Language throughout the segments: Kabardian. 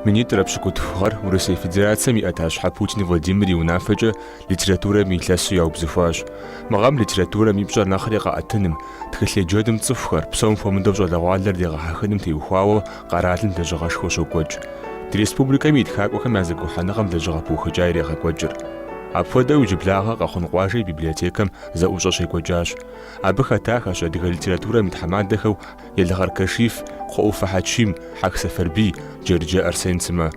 Минитӏрэ пщыкӏутху гъэр Урысей Федерацэм и ӏэтащхьэ Путин Владимир и унафэкӏэ литературэм и илъэсу яубзыхуащ. Мы гъэм литературэм и пщӏэр нэхъри къэӏэтыным, тхылъ еджэным цӏыхухэр, псом хуэмыдэу щӏалэгъуалэр дегъэхьэхыным теухуауэ къэралым лэжьыгъэшхуэ щокӏуэкӏ. Ди республикэми и тхакӏуэхэм я зэгухьэныгъэм лэжьыгъэ пыухыкӏа ирегъэкӏуэкӏыр. Апхуэдэу иджыблагъэ Къэхъун къуажэ и библиотекэм зэӏущӏэ щекӏуэкӏащ. Абы хэтахэщ адыгэ литературэм и тхьэмадэхэу Елгъэр Кашиф, Кхъуэӏуфэ Хьэчим, Хьэх Сэфарбий, Джэрыджэ Арсен сымэ.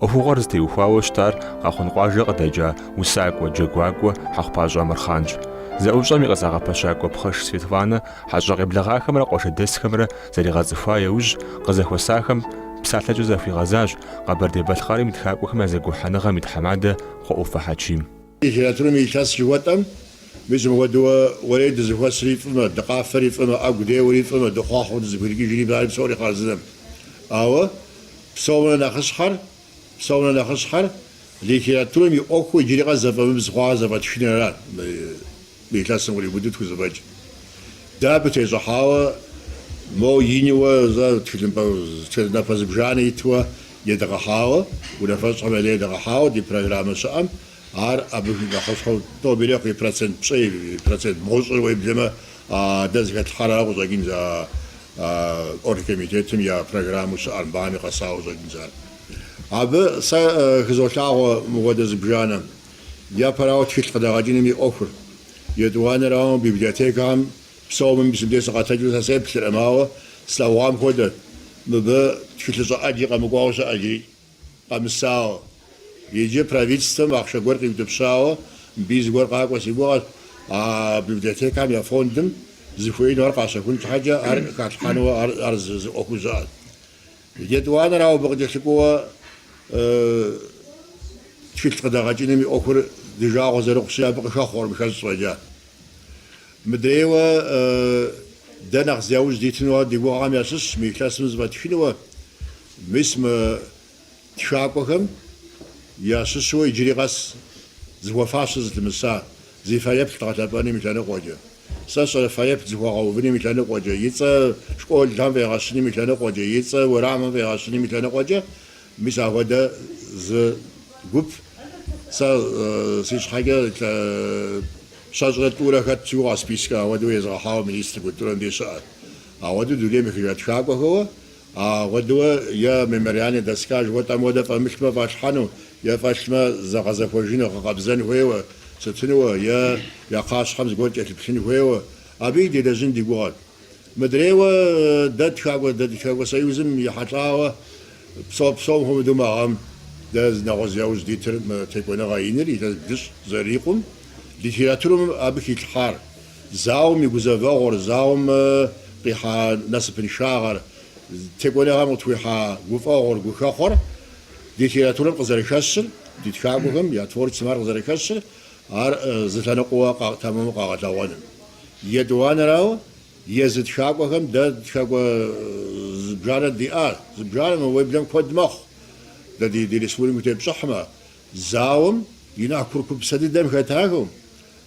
ӏуэхугъуэр зытеухуауэ щытар Къэхъун къуажэ къыдэкӏа усакӏуэ, джэгуакӏуэ Хьэхъупащӏэ Амырхъанщ. Зэӏущӏэм и къызэгъэпэщакӏуэ Пхъэш Светланэ хьэщӏэ къеблэгъахэмрэ къуажэдэсхэмрэ зэригъэцӏыхуа яужь, къызэхуэсахэм псалъэкӏэ захуигъэзащ Къэбэрдей-Балъкъэрым и тхакӏуэхэм я зэгухьэныгъэм и тхьэмадэ Кхъуэӏуфэ Хьэчим. Литературэм и илъэс жыхуэтӏэм, мис мыпхуэдэуэ уэрей дызэхуэсри фӏымэ, дыкъафэри фӏымэ, ӏэгу деуэри фӏымэ, дыхъуэхъуэу дызыхуирикӏыжри фӏари псори хъарзынэм. Ауэ псомрэ нэхъыщхьэр, псомрэ нэхъыщхьэр литературэм и ӏуэхуу иджыри къэс зэфӏэмыбз хъуауэ зэфӏэтхынырат. Мы илъэсым къриубыдэу тхузэфӏэкӏ. Дэ абы тещӏыхьауэ, моу иниуэ зэ тхылъымпӏэ напэ зыбжанэ итуэ едгъэхьауэ, унафэщӏхэм я дей едгъэхьауэ ди программэ щыӏэм, ар абы нэхъыщхьэу тӏо ирехъу и процент пщӏей, и процент бгъущӏыр уеблэмэ, дэ зыхэтлъхьар ара къыщӏэкӏынц а оргкомитетым я программэу щыӏэр, мбами къэсауэ щӏэкӏынц ар. Абы сэ хызолъагъуэ мыхуэдэ зыбжанэм. Япэрауэ, тхылъ къыдэгъэкӏыным и ӏуэхур. Етӏуанэрауэ, мы библиотекэхэм псоми мис мыбдеж сыкъэтэджу сэ сеплърэ, моуэ, слъэгъуам хуэдэт, мыбы тхылъыщӏэ ӏэджи къэмыкӏуауэ щыӏэ зыри къэмысауэ. Иджы правительствэм ахъшэ гуэр къиутӏыпщауэ, мыбы зыгуэр къакӏуэ си гугъэт, а библиотекэхэм я фондым зыхуеину ар къащэхун щхьэкӏэ ар халъхьэнуэ ар зы ӏуэхуу щыӏэт. Етӏуанэрауэ абы къыкӏэлъыкӏуэуэ тхылъ къыдэгъэкӏыным и ӏуэхур ди жагъуэ зэрыхъущи, абы къыхэхъуэркъым хэщӏ фӏэкӏа. Мыдрейуэ дэ нэхъ зи яужь дитыну ар ди гугъэхэм ящыщщ мы илъэсым зэфӏэтхынуэ, мис мы тхакӏуэхэм ящыщу иджыри къэс зыхуэфащэ зылъэмыса зи фэеплъ дгъэлъэпӏэным и лъэныкъуэкӏэ. Сэ сщӏэрэ, фэеплъ зыхуэгъэувыным и лъэныкъуэкӏэ, и цӏэ школхэм фӏегъэщыным и лъэныкъуэкӏэ, и цӏэ уэрамым фӏегъэщыным и лъэныкъуэкӏэ. Мис ахуэдэ зы гуп сэ си щхьэкӏэ щэщӏрэ тӏурэ хэт щыуэ спискэ ахуэдэу езыгъэхьауэ министр культурэм де щыӏэр. Ахуэдэу дунейм ехыжа тхакӏуэхэуэ. Ахуэдэуэ е мемориальнэ доска жыхуэтӏэм хуэдэ фӏэмылъмэ фӏалъхьэну, е фӏэлъмэ зэгъэзэхуэжыну гъэкъэбзэн хуейуэ, сытынуэ, е я кхъащхьэм зыгуэр кӏэлъыплъын хуейуэ, абыи делэжьын ди гугъэт. Мыдрейуэ дэ Тхакӏуэ Тхакӏуэ Союзым ехьэлӏауэ псо псом хуэмыдэу мы гъэм дэ нэхъыуэ зи яужь дитыр текӏуэныгъэ иныр илъэс блыщӏ зэрырикъум, литературам абы хилъхьар, Зауэм и гузэвэгъуэр, зауэм къихьа насыпыншагъэр, текӏуэныгъэм къытхуихьа гуфӏэгъуэр, гухэхъуэр ди литературэм къызэрыхэщыр, ди тхакӏуэхэм я творчествэм ар къызэрыхэщыр, ар зы лъэныкъуэуэ тэмэму къэгъэлъэгъуэным. Етӏуанэрауэ, езы тхакӏуэхэм дэ тхакӏуэ зыбжанэ диӏар, зыбжанэмэ, уеблэм куэд мэхъу. Дэ ди республикэм тепщӏыхьмэ, Зауэм и нэхъ курыкупсэ дыдэм хэтахэу,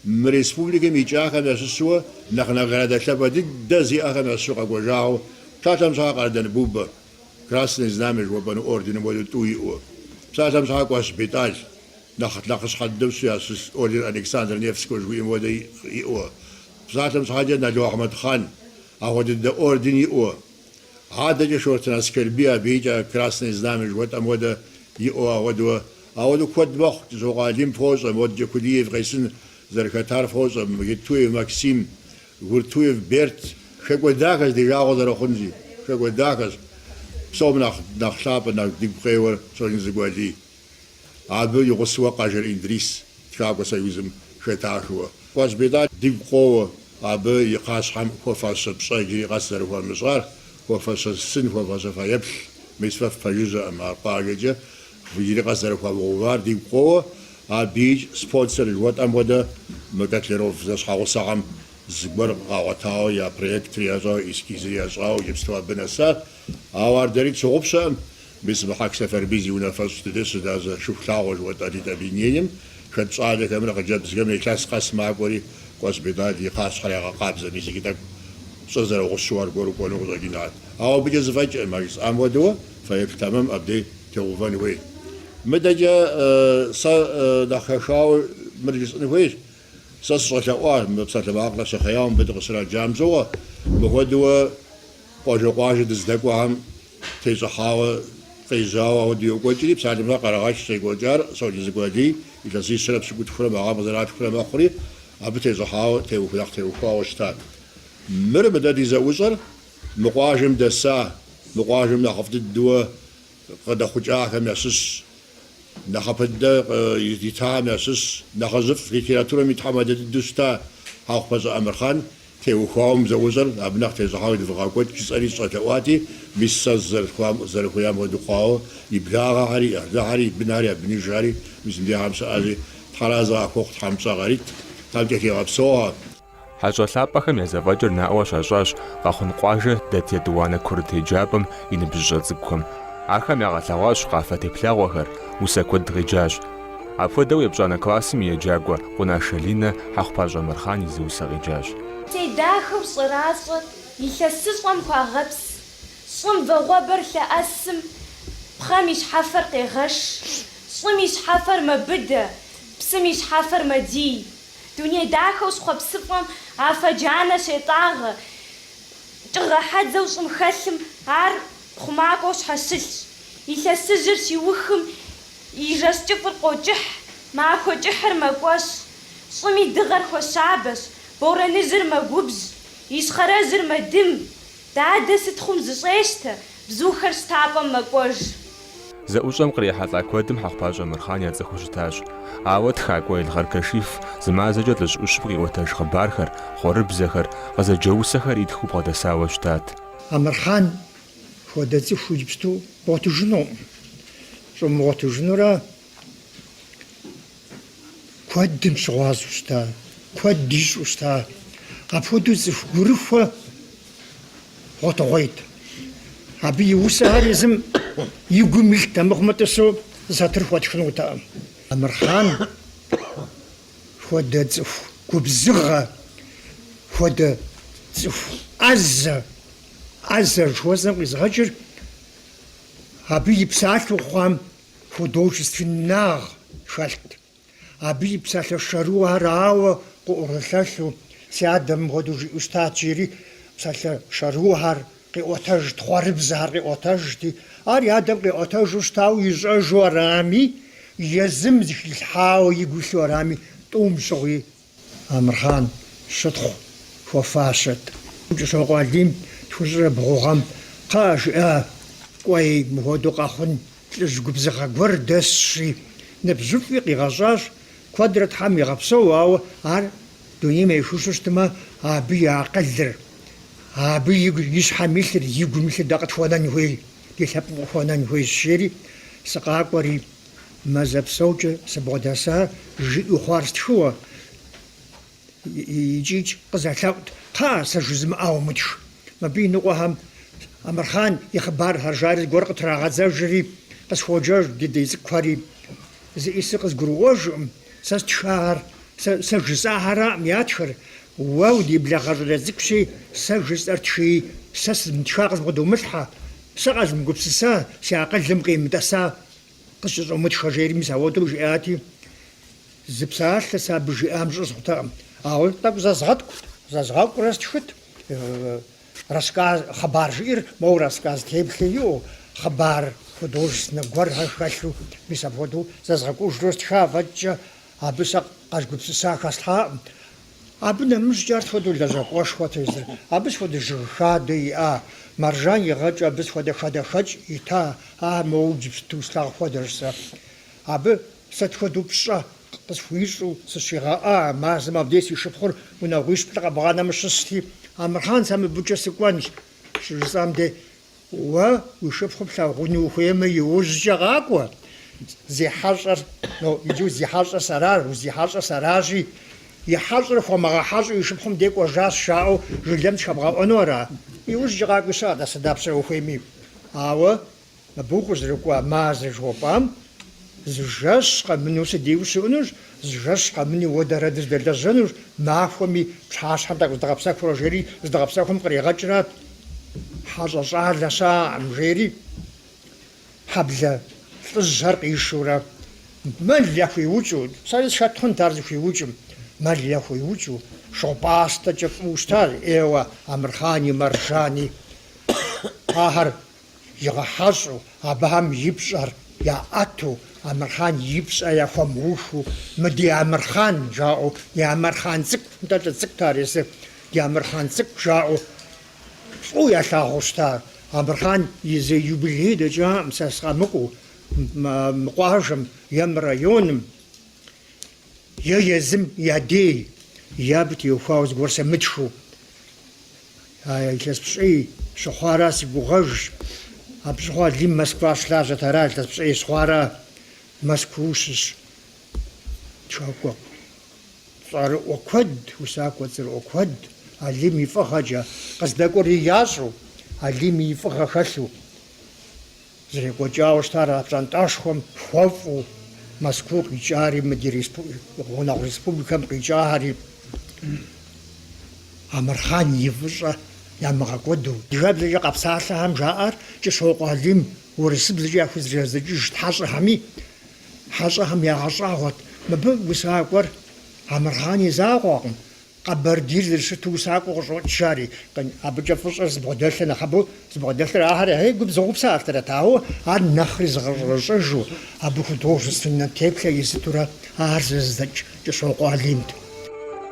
мы республикэм икӏахэм ящыщу нэхъ наградэ лъапӏэ дыдэ зиӏэхэм ящыщу къэкӏуэжагъэу псалъэм щхьа Къардэн Бубэ, Красное Знамя жыхуэпӏэну орденым хуэдэу тӏу иӏэу, псалъэм щхьа Кӏуащ Бетӏал, нэхъ нэхъыщхьэ дыдэу щыщу ящыщ орден Александра Невского жыхуиӏэм хуэдэ иӏэу, псалъэм щхьэкӏэ Нало Ахьмэдхъан, ахуэдэ дыдэ орден иӏэу, Адэкӏэ Шортын Аскэрбий абыикӏ Красное Знамя жыхуэтӏэм хуэдэ иӏэу ахуэдэу. Ахуэдэу куэд мэхъу, Кӏыщокъуэ Алим фощӏэ, модэкӏэ Кулиев Къесын зэрыхэтар фощӏэ, Геттуев Максим, Гуртуев Берт. Хэкӏуэдахэщ ди жагъуэ зэрыхъунщи, хэкӏуэдахэщ. Псом нэхъ нэхъ лъапӏэ, нэхъ дигу къеуэр Щоджэнцӏыкӏу Алий. Абы и гъусэуэ Къажэр Индрис Тхакӏуэ Союзым хэтахыуэ. Кӏуащ Бетӏал дигу къоуэ абы и кхъащхьэм хуэфащэ пщӏэ иджыри къэс зэрыхуамыщӏар, хуэфащэ сын, хуэфащэ фэеплъ. Мис фэ фпэжыжьэкъым ар къуажэкӏэ иджыри къэс зэрыхуамыгъэувар дигу къоуэ. Абыикӏ спонсор жыхуэтӏэм хуэдэ мы Котляров зэщхьэгъусэхэм зыгуэр къагъуэтауэ я проектыр ящӏауэ, эскизыр ящӏауэ иджыпсту абы нэсат. Ауэ ар дэри тщыгъупщэкъым. Мис мы Хьэх Сэфарбий зи унафэщӏ ди деж щылажьэ Шыхулъагъуэ жыхуэтӏэ литобъединением хэт щӏалэхэмрэ хъыджэбзхэм илъэс къэс макӏуэри, Кӏуащ Бетӏал и кхъащхьэр ягъэкъабзэ мис иджы тӏэкӏу щӏыр зэрыгъущу аргуэру кӏуэну къыщӏэкӏынат. Ауэ абыкӏэ зэфӏэкӏыркъым, а жысӏам хуэдэуэ фэеплъ тэмэм абдей теувэн хуейт. Мыдэкӏэ сэ нэхъ хэхауэ мыр жысӏын хуейщ. Сэ сыщӏэлъэӏуа, мы псалъэмакъыр къэсхъеяуэ мыбы дыкъыщраджам щыгъуэ, мыхуэдэуэ. Къуажэ къуажэ дыздэкӏуахэм тещӏыхьауэ къежьауэ ахуэдэу йокӏуэкӏри, псалъэм Къэрэгъэш щекӏуэкӏар Щоджэнцӏыкӏу Алий илъэсищэрэ пщыкӏутхурэ мы гъэм къызэралъхурэ мэхъури, абы тещӏыхьауэ теуху нэхъ теухуауэ щытат. Мыр мыдэ ди зэӏущӏэр, мы къуажэм дэса, мы къуажэм нэхъыфӏ дыдуэ къыдэхъукӏахэм ящыщщ, нэхъапэ дыдэ итахэм ящыщщ, нэхъыжьыфӏ литературэм и тхьэмадэ дыдэу щыта Хьэхъупащӏэ Амырхъан, теухуауэ мы зэӏущӏэр абы нэхъ тещӏыхьауэ едывгъэкӏуэкӏ жысӏэри сыщӏэлъэӏуати, мис сэ зэрыхуеям хуэдэу хъуауэ и благъэхьэри, и ӏыхьлыхьэри, и бынхьэри, я бынижхэри мис мыбдежхэм щыӏэщи, тхьэр арэзы къахухъу тхьэм пщӏэ къарит, тхьэм къытхуигъэпсэухэ. Хьэщӏэ лъапӏэхэм я зэфӏэкӏыр наӏуэ щащӏащ Къэхъун къуажэ дэт етӏуанэ курыт еджапӏэм и ныбжьыщӏэ цӏыкӏухэм. Ахэм ягъэлъэгъуащ къафэ теплъэгъуэхэр, усэ куэд къеджащ. Апхуэдэу епщӏанэ классым и еджакӏуэ Къунашэ Линэ, Хьэхъупащӏэ Амырхъан и зы усэ къеджащ. Тей дахэу щӏэращӏэр илъэсыщӏэм хуагъэпс, щӏым вагъуэбэр лъэӏэсым, пхъэм и щхьэфэр къегъэш, щӏым и щхьэфэр мэбыдэ, псым и щхьэфэр мэдий. Дуней дахэу схъуэпсыфӏэм афэ джанэ щетӏагъэ, тыгъэ хьэдзэу щӏым хэлъым ар хъумакӏуэу щхьэщылъщ. Илъэсыжьыр щиухым и жэщ кӏыфӏыр къокӏыхь, махуэ кӏыхьыр мэкӏуэщӏ. Щӏым и дыгъэр хуэщабэщ, борэныжьыр мэгубжь, ищхъэрэжьыр мэдым, Дадэ сыт хъум зыщӏещтэ, бзухэр щтапӏэм мэкӏуэж. Зэӏущӏэм кърихьэлӏа куэдым Хьэхъупащӏэ Амырхъан яцӏыхуу щытащ. Ауэ тхакӏуэ Елгъэр Кашиф зы мазэкӏэ лӏыжь ӏущым къиӏуэтэж хъыбархэр, хъуэрыбзэхэр, къызэджэ усэхэр итхыу бгъэдэсауэ щытат. Амырхъан хуэдэ цӏыху иджыпсту бгъуэтыжынукъым. Щӏумыгъуэтыжынурэ Куэдым щыгъуазэу щыта, куэд ищӏэу щыта. Апхуэдэу цӏыху гурыхуэ гъуэтыгъуейт. Абы и усэхэр езым и гум илът, амыхъумэ тӏысу сатыр хуэтхынутэкъым. Амырхъан хуэдэ цӏыху губзыгъэ, хуэдэ цӏыху ӏэзэ, ӏэзэ жыхуэсӏэм къизгъэкӏыр абы и псалъэу хъуам художественнагъ хэлът. Абы и псалъэ шэрыуэхэр ауэ къыӏурылъэлъу, си адэ мыпхуэдэу жиӏэу щытат, жери псалъэ шэрыуэхэр къиӏуэтэжт, хъуэрыбзэхэр къиӏуэтэжти, ар и адэм къиӏуэтэжу щытауэ ищӏэжу арами, езым зэхилъхьауэ игу илъу арами, тӏум щыгъуи Амырхъан щытхъу хуэфащэт. Кӏыщокъуэ Алим тхущӏрэ бгъу гъэм, кхъыӏэ, жиӏэ, кӏуэи, мыхуэдэу Къэхъун лӏыжь губзыгъэ гуэр дэсщи, ныбжьыфӏи къигъэщӏащ, куэдрэ Тхьэм игъэпсэу, ауэ ар дунейм ехыжу щытмэ, абы и акъылыр, абы и, и щхьэм илъыр, игум илъыр дэ къытхуэнэн хуей, ди лъэпкъым къыхуэнэн хуейщ, жери, сыкъакӏуэри, Мазэ псэукӏэ сыбгъэдэса, жиӏэу хъуар стхыуэ. Икӏикӏ къызэлъэӏут, Кхъа, сэ жызымыӏауэ мытх. Мыбы и ныкъуэхэм Амырхъан и хъыбархэр жари зыгуэр къытрагъэдзэжри, къысхуоджэж ди дей цӏыкӏухэри. Зыӏисыр къызгурыӏуэжкъым, сэ стхахэр, сэ жысӏахэракъым ятхыр. Уэ уди благъэ щӏалэ цӏыкӏущи, сэ жысӏэр тхыи, сэ сызмытха къызмы, къыдумылъхьэ. Сэ къэзмыгупсыса, си акъылым къимытӏэса. Къысщыщӏумытхэ жери мис ауэдэу жиӏати, зы псалъэ сэ абы жиӏам щӏызгъутэкъым. Ауэ тӏэкӏу зэзгъэткӏут, зэзгъэкӏурэ стхыт. Рассказ, хъыбар жиӏэр моуэ рассказ теплъэ иӏэу, хъыбар художественнэ гуэрхэр хэлъу, мис апхуэдэу зэзгъэкӏужурэ стха фӏэкӏкӏэ, абы сэ къэзгупсыса хэслъхьакъым. Абы нэмыщӏкӏэ ар сыт хуэдэу лэжьакӏуэшхуэт езыр, абы сыт хуэдэ жыг хадэ иӏа, Маржан игъэкӏыу, абы сыт хуэдэ хадэхэкӏ ита, а моуэ иджыпсту слъагъу хуэдэщ сэ. Абы сыт хуэдэу пщӏэ къысхуищӏу сыщигъэӏа, мазэм абдей си шыпхъур унагъуищ-плӏы къэбгъанэмэ щысти, Амырхъан, сэ мыбыкӏэ сыкӏуэнщ, щыжысӏам дей, Уэ уи шыпхъур плъагъуну ухуеймэ, иужькӏэ къакӏуэ. Зи хьэщӏэр, но, иджы зи хьэщӏэр сэра, узи хьэщӏэр сэращи, и хьэщӏэр хуэмыгъэхьэщӏу и шыпхъум дей кӏуэжащ жаӏэу жылэм дыщхэбгъэӏуэну ара? Иужькӏэ къакӏуи щыӏэ, дэс дапщэрэ ухуейми. Ауэ мыбы укъызэрыкӏуа мазэ жыхуэпӏам Зы жэщ къэмыну си дей ущыӏэнущ, зы жэщ къэмыну уэ дэрэ дыздэлэжьэнущ, махуэми, пщащхьэм тӏэкӏу зыдгъэпсэхурэ жери зыдгъэпсэхум къригъэкӏрат. Хьэщӏэ щӏалэ щыӏэкъым, жери хьэблэ лӏыжьхэр къишурэ мэл яхуиукӏыу, сэри схэт хъунт ар зыхуиукӏым, мэл яхуиукӏыу, шыгъу пӏастэкӏэ фӏыуэ щытащ, ӏейуэ, Амырхъани, Маржани, ахэр. Игъэхьэщӏу, абыхэм и пщӏэр яӏэту, Амырхъан и пщӏэ яхуэмыухыу, мы ди Амырхъан жаӏэу, ди Амырхъан цӏыкӏу, нтӏэ лӏы цӏыкӏут ар езыр, ди Амырхъан цӏыкӏу жаӏэу фӏыуэ ялъагъуу щыта ар. Амырхъан и зы юбилей дэкӏакъым сэ сыкъэмыкӏуэу, мы къуажэм е мы районым, е езым я дей, е абы теухуауэ зыгуэр сымытхыу. А илъэс пщӏей щыхъуара си гугъэжщ. Абы щыгъуэ Алим Москва щылажьэт, ара илъэс пщӏей щыхъуара Москва щыщ тхакӏуэ цӏэрыӏуэ куэд, усакӏуэ цӏэрыӏуэ куэд, Алим и фӏыгъэкӏэ, къыздэкӏуэри ящӏу, Алим и фӏыгъэ хэлъу. Зэрекӏуэкӏауэ щытар а пщӏантӏэшхуэм хуэфӏу Мэзкуу къикӏари, мы ди гъунэгъу республикэм къикӏари Амырхъан и фӏыщӏэ ямыгъэкӏуэду. Адыгэбзэкӏэ къэпсалъэхэм жаӏэр Кӏыщокъуэ Алим урысыбзэкӏэ яхузэридзэкӏыжт хьэщӏэхэми, хьэщӏэхэм ягъэщӏагъуэт. Мыбы усакӏуэр Амырхъан и закъуэкъым. Къэбэрдейр зэрыщыту усакӏуэу къыщӏокӏ жари, къын, абыкӏэ фӏыщӏэр зыбгъэдэлъыр нэхъыбэу, зыбгъэдэлъыр ахэр яхей губзыгъэу псэлъахэрат, ауэ ар нэхъри зыгъэщӏэрэщӏэжу, абы художественнэ теплъэ изытурэ ар зэзыдзэкӏ Кӏыщокъуэ Алимт.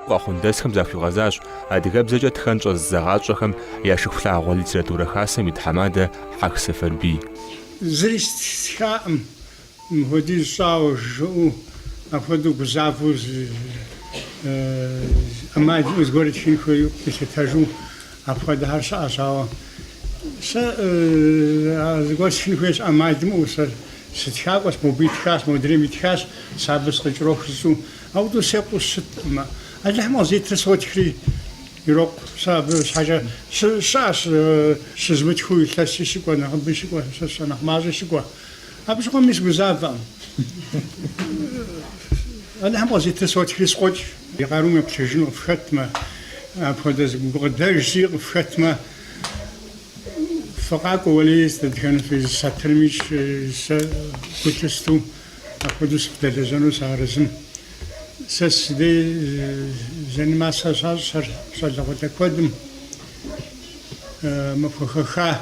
Къэхъундэсхэм захуигъэзащ адыгэбзэкӏэ тхэн щӏэзыдзэгъащӏэхэм я Шыхулъагъуэ литературэ хасэм и тхьэмадэ Хьэх Сэфэрбий. Зыри стхаӏым, Мыпхуэдиз щӏауэ жиӏэу, апхуэдэу гузавэу, ӏэмал имыӏэу зыгуэр итхын хуейуэ къилъытэжу апхуэдэхэр щыӏэщ. Ауэ сэ зыгуэр стхын хуейщ ӏэмал имыӏэу. Сэ сытхакӏуэщ, мобы итхащ, модрейм итхащ, сэ абы сыкъыкӏэроху жысӏэу. Ауэдэу секъуу щыткъым. Алыхьым къызитыр сотхри ирокъу. Сэ абы щхьэкӏэ щыӏэщ щызмытхыу илъэси щыкӏуэ, нэхъыбэи щыкӏуэ, сэ сщӏэ нэхъ мащӏи щыкӏуэ. Абы щыгъуэми сыгузавэӏым. Алыхьым къызитыр сотхри сокӏуэкӏ. И къарум еплъыжыну къыфхэтмэ, апхуэдэ зы гукъыдэжри къыфхэтмэ, фыкъакӏуэ уэлий, дэтхэнэ фи зы сатырмикӏ сэ гу лъысту апхуэдэу сыфыдэлэжьэну сыарэзым. Сэ си дей заниматься щащӏ сэр щӏалэгъуалэ куэдым махуэ хэха.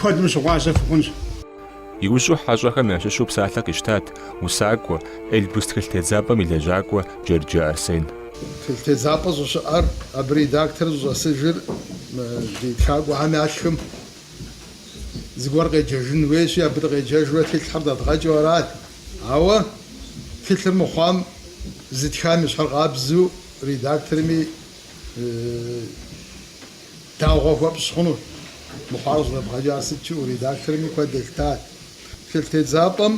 куэдым щыгъуазэ фыхъунщ. Иужьу хьэщӏэхэм ящыщу псалъэ къищтат усакӏуэ, Эльбрус тхылъ тедзапӏэм и лэжьакӏуэ Джэрджэ Арсен. Тхылъ тедзапӏэ щӏыщыӏэр абы редактор щӏыщӏэсыжыр ди тхакӏуэхэм ятхым зыгуэр къеджэжын хуейщи, абы дыкъеджэжурэ тхылъхэр дэдгъэкӏыу арат. Ауэ тхылъыр мыхъуам зытхам и щхьэр къабзэу редакторми дагъуэ хуэпщӏ хъуну. Мыхъуар щӏыдэбгъэкӏар сыт жиӏэу редакторми куэд елъытат. Тхылътедзапӏэм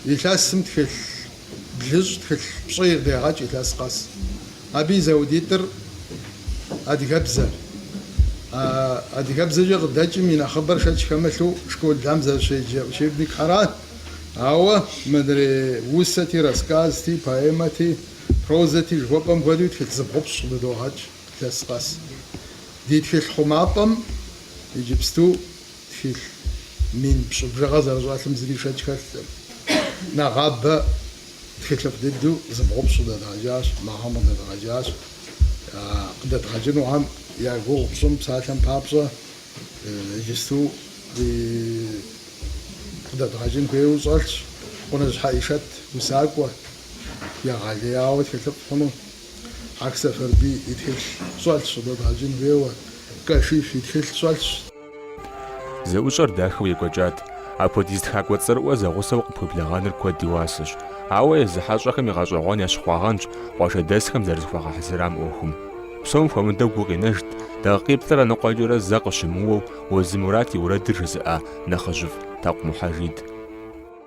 илъэсым тхылъ блыщӏ, тхылъ пщӏей дегъэкӏ илъэс къэс. Абы и зэхуэдитӏыр адыгэбзэр. А адыгэбзэкӏэ къыдэкӏым и нэхъыбэр шэч хэмылъу школым зэрыщеджэ учебникхэрат. Ауэ мыдрей усэти, рассказти, поэмэти, Прозэти жыхуэпӏэм хуэдэу тхылъ зыбгъупщӏ къыдыдогъэкӏ илъэс къэс. Ди тхылъ хъумапӏэм иджыпсту тхылъ мин пщӏы бжыгъэ зэрыщӏэлъым зыри шэч хэлъкъым. Нэгъабэ тхылъыфӏ дыдэу зыбгъупщӏ къыдэдгъэкӏащ, мы гъэм къыдэдгъэкӏащ. Къыдэдгъэкӏынухэм я гугъу пщӏым псалъэм папщӏэ иджысту ди къыдэдгъэкӏын хуейуэ щӏэлъщ. Къуныжь Хьэӏишэт усакӏуэ. егъэлеяуэ тхылъыфӏ хъуну. Хьэх Сэфарбий и тхылъ щӏэлъщ, къыдэдгъэкӏын хуейуэ, Кашиф и тхылъ щӏэлъщ. Зэӏущӏэр дахэу екӏуэкӏат. Апхуэдиз тхакӏуэ цӏэрыӏуэ зэгъусэу къыпхуеблэгъэныр куэд и уасэщ. Ауэ езы хьэщӏэхэми гъэщӏэгъуэн ящыхъуагъэнщ къуажэдэсхэм зэрызыхуагъэхьэзырам ӏуэхум. Псом хуэмыдэу гу къинэжт, дакъикъиплӏрэ ныкъуэкӏэрэ зэ къыщымыуэу Уэзы Мурат и уэрэдыр жызыӏа нэхъыжьыфӏ Такъу Мухьэжид.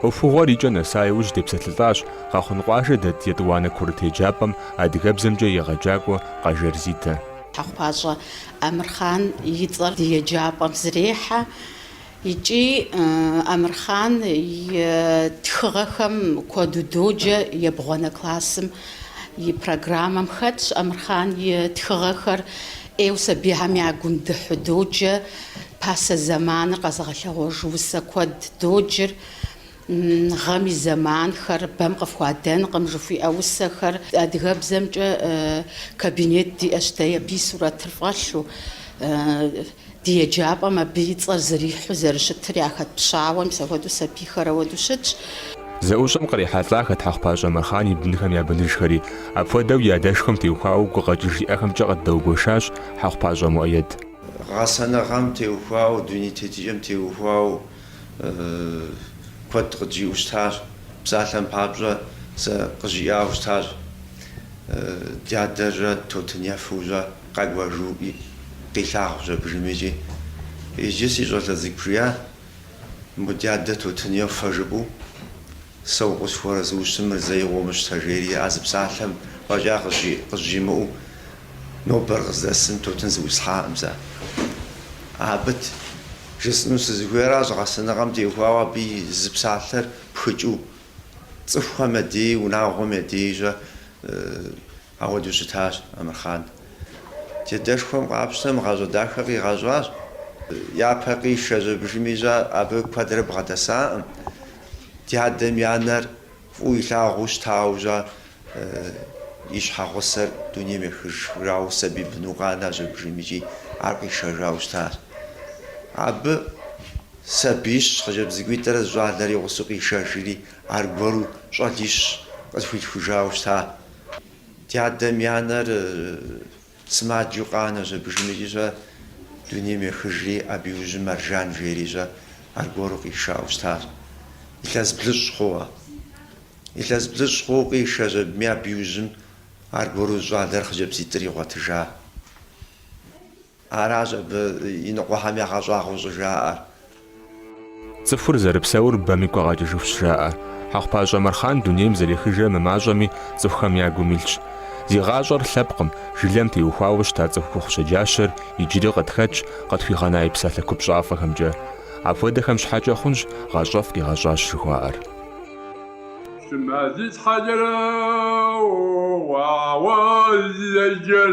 Ӏуэхугъуэр икӏэ нэса иужь депсэлъылӏащ Къэхъун къуажэ дэт Етӏуанэ курыт еджапӏэм адыгэбзэмкӏэ егъэджакӏуэ Къажэр Зитэ. Хьэхъупащӏэ Амырхъан и цӏэр ди еджапӏэм зэрехьэ. Икӏи Амырхъан и тхыгъэхэм куэду доджэ ебгъуанэ классым и программэм хэтщ Амырхъан и тхыгъэхэр. ӏейу сабийхэм я гум дыхьу доджэ. Пасэ зэманыр къэзыгъэлъэгъуэж усэ куэд доджыр. Гъэм и зэманхэр бэм къыфхуадэнкъым жыхуиӏэ усэхэр. Адыгэбзэмкӏэ кабинет диӏэщ, дэ абы и сурэтыр фӏэлъу, ди еджапӏэм абы и цӏэр зэрихьу зэрыщытыр яхэтпщауэ, мис апхуэдэу сабийхэр ауэдэу щытщ. Зэӏущӏэм кърихьэлӏахэт Хьэхъупащӏэ Амырхъан и бынхэм я быныжхэри. Апхуэдэу и адэшхуэм теухуауэ гукъэкӏыж иӏэхэмкӏэ къыддэгуэшащ Хьэхъупащӏэ Муэед. Гъэсэныгъэм теухуауэ, дуней тетыкӏэм теухуауэ. куэд къыджиӏэу щытащ, псалъэм папщӏэ сэ къызжиӏауэ щытащ, дадэ щэ тутын ефэу щэ къэкӏуэжуи къилъагъущ абдежым икӏи. Иджы си щӏалэ цӏыкӏу жиӏэ, мы дадэ тутын ефэ жыпӏэу сэ укъысхуэарэзыу щытым мыр зэи къыумыщтэ, жери а зы псалъэм фӏэкӏа къызжимыӏэу нобэр къыздэсым тутын зыӏуслъхьакъым сэ. Абы жысӏэну сызыхуейращ, гъэсэныгъэм теухуауэ абы и зы псалъэр пхыкӏыу, цӏыхухэм я деи, унагъуэм я деи щэ ахуэдэу щытащ Амырхъан. Ди адэшхуэм къапщтэм гъащӏэ дахэ къигъэщӏащ. Япэ къиша щэ абдежым щэ абы куэдрэ бгъэдэсакъым. Ди адэм и анэр. Фӏыуэ илъагъуу щытауэ щэ и щхьэгъусэр дунейм ехыжауэ сабий быну къанэщ абдежым икӏи ар къишэжауэ щытащ. Абы сабиищ, хъыджэбз цӏыкӏуитӏрэ зы щӏалэрэ и гъусэу къишэжри, аргуэру щӏалищ къызыхуилъхужауэ щыта. Ди адэм и анэр Сымаджэу къанэщ абдежым икӏи щэ дунейм ехыжри, абы иужьым Маржан жери щэ аргуэру къишауэ щытащ. Илъэс блыщӏ хъууэ. Илъэс блыщӏ хъууэ къишэщ абыми абы иужьым аргуэру зы щӏалэрэ хъыджэбзитӏрэ игъуэтыжа. Аращ абы иныкъуэхэм ягъэщӏагъуэу щӏыжаӏэр. Цӏыхур зэрыпсэур бэм игу къагъэкӏыжыхущ жаӏэ. Хьэхъупащӏэ Амырхъан дунейм зэрехыжрэ мымащӏэми цӏыхухэм я гум илъщ. Зи гъащӏэр лъэпкъым, жылэм теухуауэ щыта цӏыхухъу щэджащэр иджыри къытхэтщ къытхуигъэна и псалъэ купщӏафӏэхэмкӏэ. Апхуэдэхэм щхьэкӏэ хъунщ гъащӏэфӏ къигъэщӏащ жыхуаӏэр. Щымэ зи тхьэлэрэ уауэ зэджэр.